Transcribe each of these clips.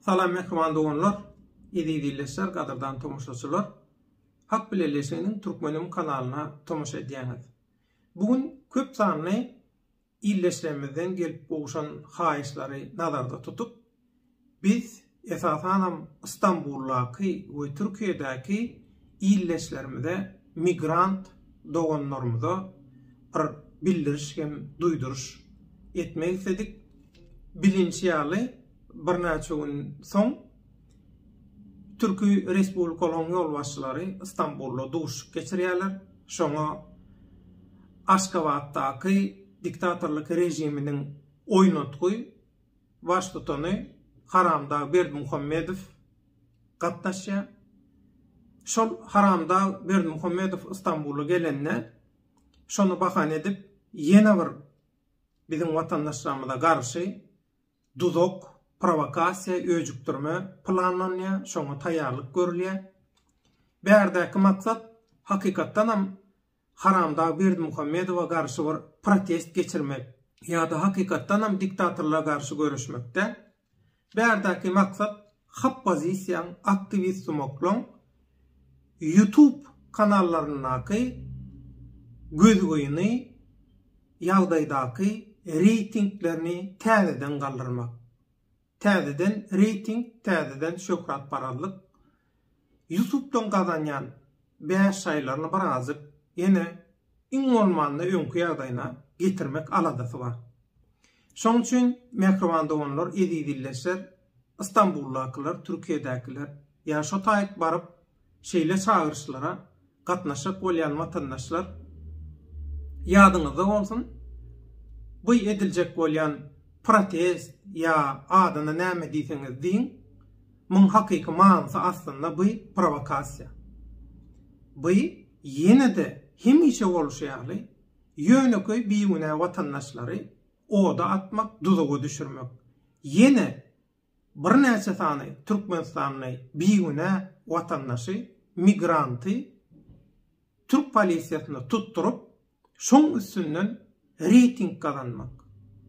Salam mähriban doganlar, eziz ildeşler, gadyrdan tomaşaçylar! Hak bilen Leşiniň Türkmenim kanalyna tomaşa edýäňiz. Bu gün köp sanly ildeşlerimizden gelip gowşan haýyşlary nazarda tutup, biz esasanam Istanbuldaky we Türkiýedäki ildeşlerimize, migrant doganlarymyza bir bildiriş hem duýduryş etmek isledik. Bilinişi ýaly, birnäçe gün soň türki respublikalaryň ýolbaşçylary Stambulda duşuşyk geçirýärler. Şoňa Aşgabatdaky diktatorlyk režiminiň oýnatgy baştutany haramdag Berdimuhamedow gatnaşýar. Şol haramdag Berdimuhamedow Stambula gelende, şony bahana edip, ýene bir Biziň watandaşlarymyza garşy duzak, prowokasiýa, öjükdirme planlanýar, şoňa taýýarlyk görülýär. Bärdäki maksat, hakykatdanam, haramdag Berdimuhamedowa garşy bir protest geçirmek ýa-da hakykatdanam diktatorlara garşy göreşmek däl. Bärdäki maksat hap pozisiýaň aktiwistsumaklaň ýutub kanallaryndaky gözgyny ýagdaýdaky reýtinglerini täzeden galdyrmak. Täzeden reýting täzeden şöhratparazlyk ýutubdan gazanýan bäş aýlaryny birazjyk ýene iň bolmanda öňki ýagdaýyna getirmek aladasy bar. Şoň üçin mähriban doganlar, eziz ildeşler, Ystambuldakylar, Türkiýedäkiler, ýa şo taýyp baryp şeýle çagyryşlara gatnaşjak bolýan watandaşlar, ýadyňyzda bolsun, bu ediljek bolýan protest ýa adyna näme diýseňiz diýiň, Muň hakyky manysy aslynda by prowokasiýa. By ýene-de hemişe bolşy ýaly ýönekeý bigünä watandaşlary oda atmak duzuga düşürmek. Ýene birnäçe sany türkmenistanly bigünä watandaşy migranty türk polisiýasyna tutduryp, Şoň üstünden reýting gazanmak,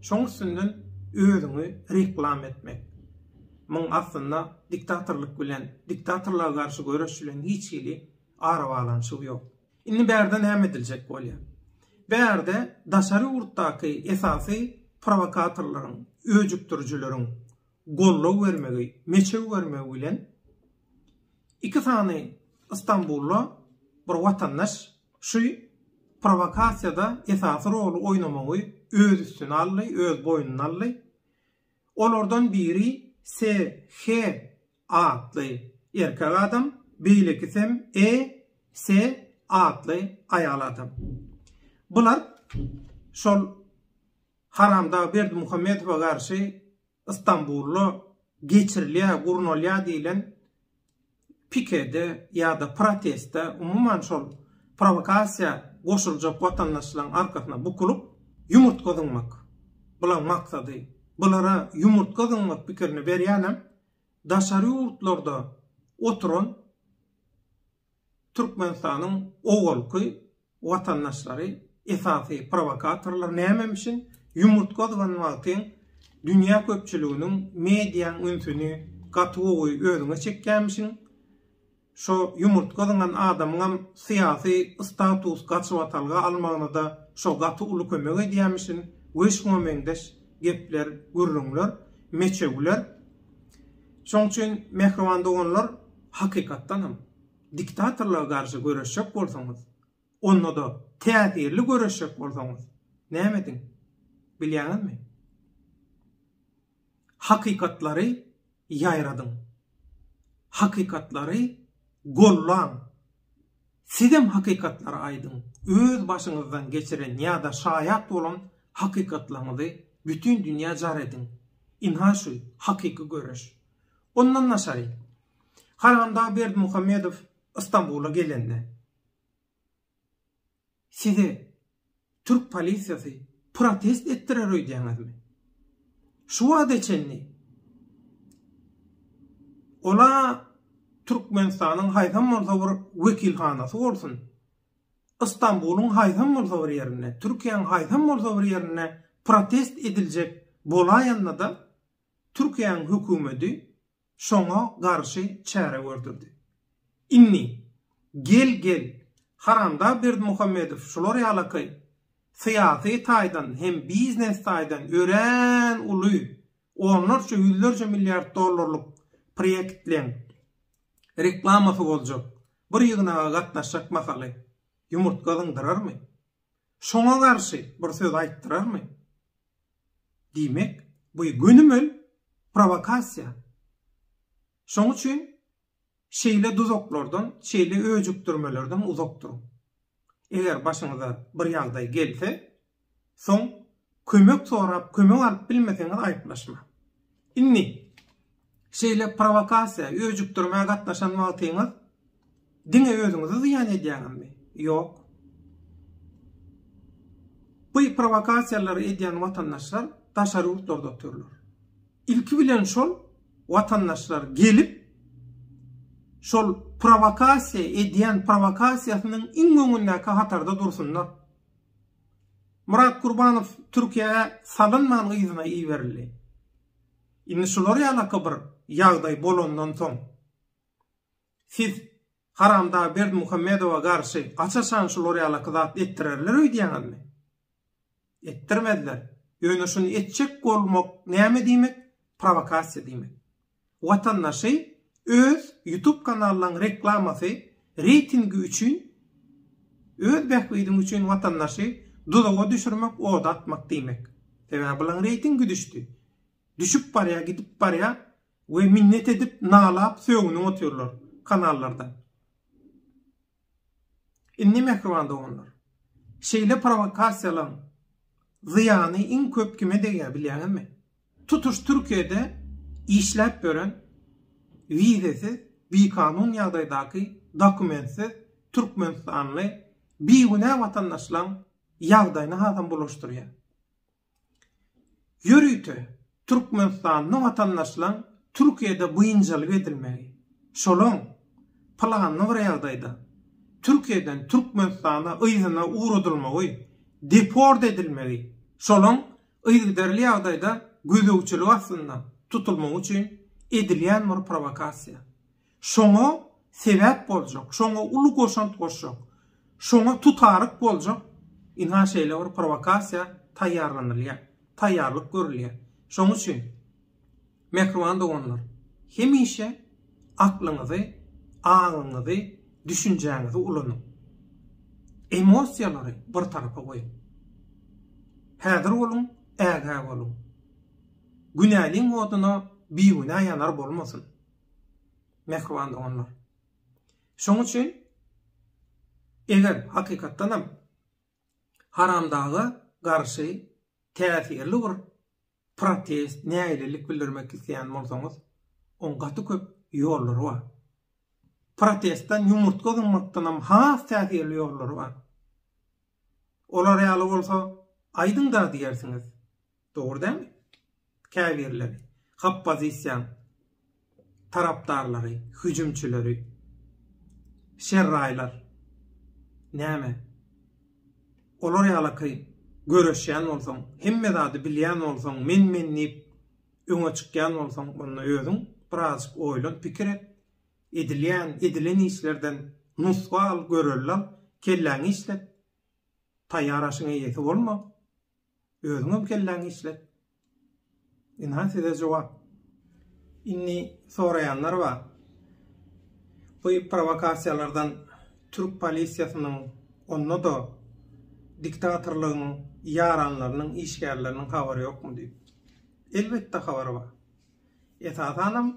şoň üstünden özüňi reklam etmek. Muň aslynda diktatorlyk bilen, diktatorlyga garşy göreş bilen hiç hili arabaglanyşygy ýok. Indi bärde näme ediljek bolýar? Bärde daşary ýurtdaky esasy prowokatorlaryň, öjükdirijileriň goldaw bermegi, meçew bermegi bilen iki sany Stambully bir watandaş şu prowokasiýada esasy roly oýnamagy öz üstüne aldy, öz boýnuna aldy. Olardan biri SH atly erkek adam, beýlekisem ES atly aýal adam. Bular şol Haramdag Berdimuhamedowa garşy Istanbulda geçirilýär, gurnalýar diýlen pikede ýa-da protestde, umuman şol prowokasiýa goşuljak watandaşlaryň arkasyna bukulyp, ýumurtga zyňmak. Bulaň maksady. Bulara ýumurtga zyňmak pikirini berýänem daşary ýurtlarda oturan, Türkmenistanyň owalky watandaşlary, esasy prowokatorlar nämem üçin ýumurtga zygan wagtyň dünýä köpçüliginiň mediaň ünsüni gaty gowy özüňe çekýämişiň, şo ýumurtga zyňan adamyňam syýasy status gaçybatalga almagyna-da şo gaty uly kömek edýämişin we şuňa meňzeş gepler, gürrüňler, meçewler, Şoň üçin, mähriban doganlar, hakykatdan hem, diktatorlyga garşy göreşjek bolsaňyz, onda-da täsirli göreşjek bolsaňyz, näme ediň, bilýäňizmi? Hakykatlary ýaýradyň! Hakykatlary gollaň! Sizem hakykatlary aýdyň, öz başyňyzdan geçiren ýa-da şaýat bolan hakykatlaryňyzy bütin dünýä jar ediň. Ynha şu, hakyky göreş. Ondan daşary, Haramdag Berdimuhamedow Ystambula gelende. Size türk polisiýasy protest etdirer öýdýäňizmi? Şu wagta çenli ola Türkmenistanyň haýsam bolsa bir wekilhanasy bolsun, Ystambulyň haýsam bolsa bir ýerinde, Türkiýäň haýsam bolsa bir ýerinde protest ediljek bolaýanda-da, Türkiýäň hökümeti şoňa garşy çäre gördürdi. Indi, gel, gel, Haramdag Berdimuhamedow şular ýalaky syýasy taýdan hem biznes taýdan örän uly, onlarça, ýüzlerçe milliard dollarlyk proýektleň reklamasy boljak bir ýygnaga gatnaşjak mahaly ýumurtga zyňdyrarmy? Şoňa garşy bir söz aýtdyrarmy? Diýmek, bu gönümel prowokasiýa. Şoň üçin şeýle duzaklardan, şeýle öjükdirmelerden uzak duruň. Eger başyňyza bir ýagdaý gelse, soň Kömek sorap kömek alyp bilmeseňiz aýyplaşma. Indi şeýle prowokasiýa, öjükdirmä gatnaşan wagtyňyz diňe özüňize zyýan edýäňizmi? Ýok. Bu prowokasiýalary edýän watandaşlar daşary ýurtlarda otyrlar. Ilki bilen şol watandaşlar gelip şol prowokasiýa edýän prowokasiýasynyň iň öňündäki hatarda dursunlar. Murat Gurbanow Türkiýä salynman yzyna iberildi. Indi şular ýalaky bir ýagdaý bolandan soň siz haramdag Berdimuhamedowa garşy gaçaşan şular ýalaky zat etdirerler öýdýäňizmi? Etdirmezler. Ýöne şuny etjek bolmak näme diýmek? Prowokasiýa diýmek. watandaşy öz YouTube kanalynyň reklamasy reýtingi üçin öz bähbidiň üçin watandaşy duzaga düşürmek oda atmak diýmek. Sebäbi bulaň reýtingi düşdi. Düşüp barýa gidip barýa we minnet edip nalap sögünip otyrlar kanallardan. Indi mähriban doganlar, şeýle prowokasiýalaryň zyýany iň köp kime degýär bilýäňizmi? Tutuş Türkiýede işläp ýören wizesiz, bikanun ýagdaýdaky dokumentsiz türkmenistanly bigünä watandaşlaryň ýagdaýyna hasam bulaşdyrýar. Ýörite Türkmenistanda watandaşlaryň Türkiýede biynjalyk edilmegi, şolaň planly bir ýagdaýda Türkiýeden Türkmenistana yzyna ugradylmagy, deport edilmegi, şolaň yzygiderli ýagdaýda gözegçilik astynda tutulmagy üçin edilýän bir prowokasiýa. şoňa sebäp boljak, şoňa uly goşant goşjak, şoňa tutaryk boljak, ynha şeýle bir prowokasiýa taýýarlanylýar, taýýarlyk görülýär. Şonuň üçin, mähriban doganlar, hemişe aklyňyzy, aňyňyzy, düşünjäňizi ulanyň. Emosiýalary bir tarapa goýuň. Häzir boluň, ägä boluň. Günäliň oduna bigünä ýanar bolmasyn. Mähriban doganlar! Şoň üçin, eger hakykatdanam haramdaga garşy täsirli bir protest, nägilelik bildirmek isleýän bolsaňyz, oň gaty köp ýollary bar. Protestden ýumurtga zyňmakdanam has täsirli ýollary bar. Olar ýaly bolsa, aýdyň-da diýersiňiz. Dogry dälmi? Käbirleri, oppozisiýaň tarapdarlary, hüjümçileri, şerraýlar, näme, olar ýalaky göreşýän bolsaň, hemme zady bilýän bolsaň, men-men diýip öňe çykýan bolsaň, onda özüň birazjyk oýlan, pikir et. Edilýän, edilen işlerden nusga al, görelde al, kelläňi işlet. Taýýar aşyň eýesi bolma. Özüňem kelläňi işlet. Ynha size jogap. Indi soraýanlar bar. Bu prowokasiýalardan türk polisiýasynyň, onda-da diktatorlygyň ýaranlarynyň, işgärleriniň habary ýokmy diýip. Elbetde habary bar. Esasanam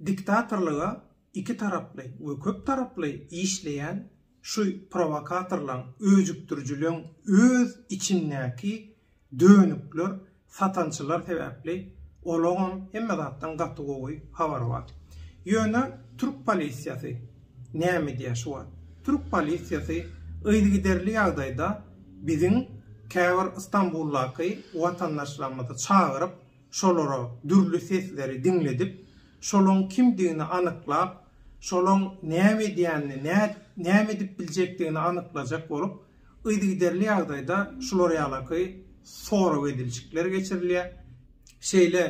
Diktatorlyga iki taraply we köp taraply işleýän şu prowokatorlaň, öjükdirijileň öz içindäki dönükler, satançylar sebäpli olagam hemme zatdan gaty gowy habary bar. Ýöne türk polisiýasy näme edýär şu wagt? Türk polisiýasy yzygiderli ýagdaýda biziň käbir Stambuldaky watandaşlarymyzy çagyryp, şolara dürli sesleri diňledip, şolaň kimdigini anyklap, şolaň näme edýänini, nä, näme edip biljekdigini anyklajak bolup, yzygiderli ýagdaýda şular ýalaky sorag ediljikler geçirilýär. Şeýle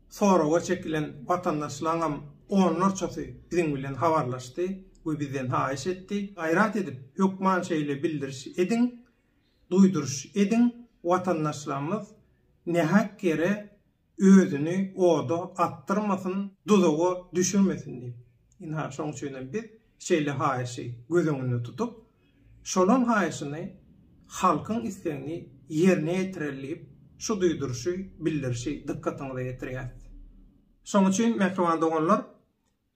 soraga çekilen watandaşlaňam onlarçasy biziň bilen habarlaşdy we bizden haýyş etdi, gaýrat edip, hökman şeýle bildiriş ediň, duýduryş ediň, watandaşlarymyz nähak ýere özüni oda atdyrmasyn, duzaga düşürmesin diýip. Ynha, şonuň üçin hem biz şeýle haýyşy göz öňünde tutup, şolaň haýyşyny, halkyň islegini ýerine ýetireli diýip, şu duýduryşy, bildirişi dykgatyňyza ýetirýäris. Şonuň üçin, mähriban doganlar,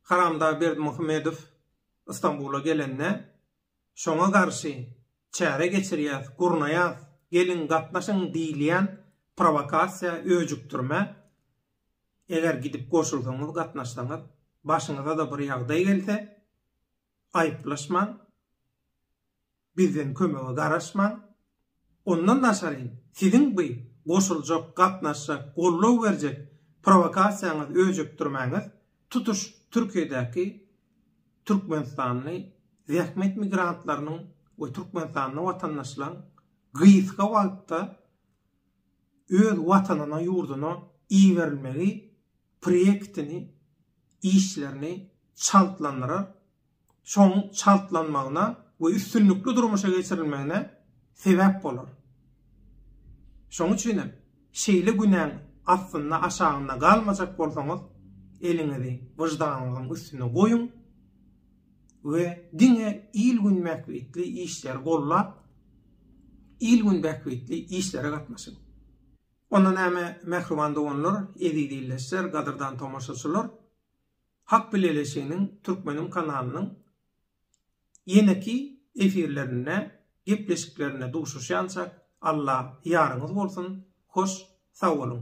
Haramdag Berdimuhamedow Stambula gelende, Şoňa garşy çäre geçirýäs, gurnaýas, geliň gatnaşyň diýilýän prowokasiýa, öjükdirmä, eger gidip goşulsaňyz, gatnaşsaňyz, başyňyza-da bir ýagdaý gelse, aýyplaşmaň, bizden kömege garaşmaň, Ondan daşary, siziň by goşuljak, gatnaşjak, goldaw berjek prowokasiýaňyz öjükdirmäňiz tutuş Türkiýedäki türkmenistanly zähmet migrantlarynyň we türkmenistanly watandaşlaň gysga wagtda öz watanyna, ýurduna iberilmegi proýektini, işlerini çaltlandyrar. şoň çaltlanmagyna we üstünlikli durmuşa geçirilmegine sebäp bolar. Şoň üçin hem şeýle günäň astynda aşagynda galmajak bolsaňyz, eliňizi wyždanyňyzyň üstüne goýuň we diňe il-gün bähbitli işleri gollap, il-gün bähbitli işlere gatnaşyň. Onda näme, mähriban doganlar, eziz ildeşler, gadyrdan tomaşaçylar, Halk Bileleşiginiň Türkmenim kanalynyň ýeneki efirlerinde, gepleşiklerinde duşuşýançak, Alla ýaryňyz bolsun, hoş sag boluň!